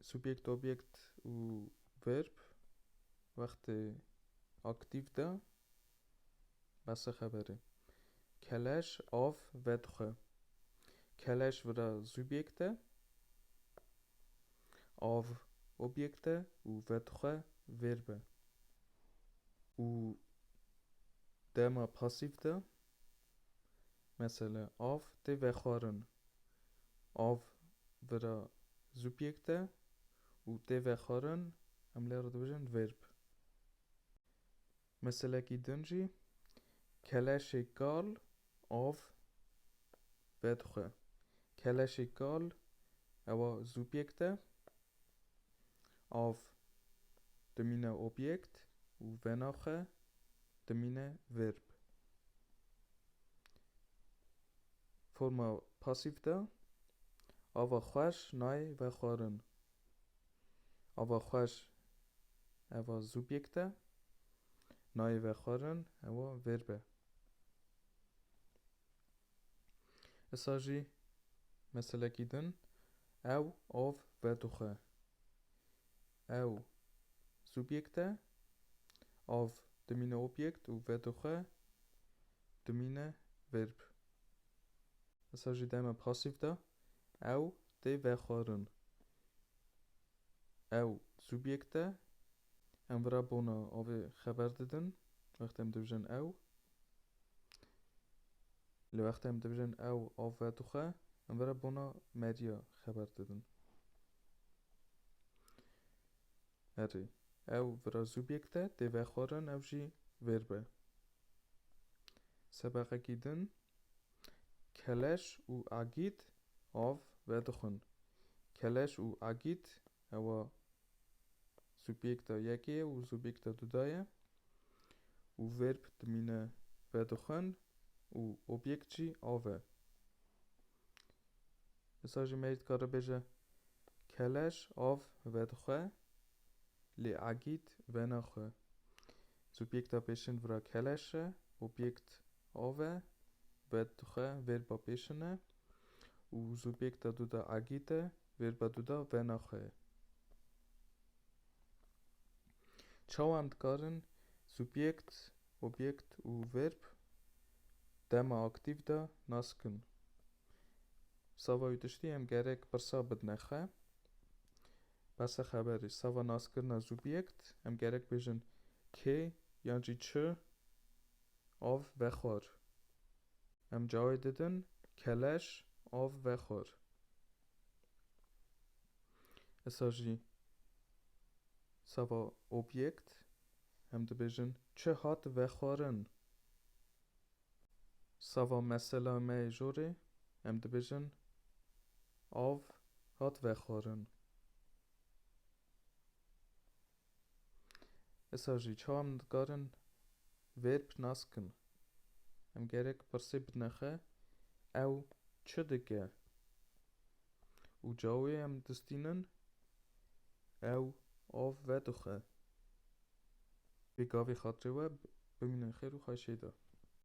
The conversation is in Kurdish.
Subjekt, objekt û verb wextê aktîf de bese xeber e. Keleş av vedixwe. Keleş vira subjekt e, av objekt e û vedixwe verb e û dema pasîf de Mesela, av tê vexwarin, av vira zubjekt e û tê vexwarin em lê re dibêjin verb. Meselekî din jî, keleşê kal av vedixwe. Keleşê kal ewa zubjekt e Av dimîne objekt û venaxe dimîne verb. Forma pasîf de ava xweş nayê vexwarin. Ava xweş eva subjekt e, nayê vexwarin ewa verb e. Issa jî meselekî din ew av vedixwe. Ew subjekt e, av dimîne objekt û vedixwe dimîne verb. Issa jî dema pasîv de ew tê vexwarin. Ew subjekt e. Em vira bona avê xeber didin. Wextê em dibijin ew. Li wextê em dibijin ew av vedixe, em vira bona meriya xeber didin. Erê. Ew vira subjekt e, tê vexwarin ew jî verb e. Sebeqekî din keleş û agît av vedixwin. Keleş û agît ewa subîekta yekê ye û subîekta du da ye û verb dimîne vedixwin û obîekt jî av e. Disa jî me dikare bêje keleş av vedixwe lê agît venaxwe. Subîekta pêşin vira keleş e, obîekt Ave, bed dixwe vêrba pêşine û zûbêk da duda agî te, vêrba duda vena xwe ye. Çawan dikarin zûbêkt, obêkt û vêrb dema aktîv da naskin? Sava wî tiştî em gerek pirsa bidine xwe. Bese xeberê, sava naskirina zûbêkt em gerek bêjin kê yan jî çi av vexwar. Em cawê didin keleş av vexwar. Esa jî seba objekt em dibêjin çi hat vexwarin. Seba mesela me yê jorê em dibêjin av hat vexwarin. Esa jî çawa min dikarin verb nas kim? Em gerek pirsê bidine xwe ew çi dike? Û cawê em distînin ew av vedixwe. Bê gavê xatirê we bimînin xêr û xweşê de.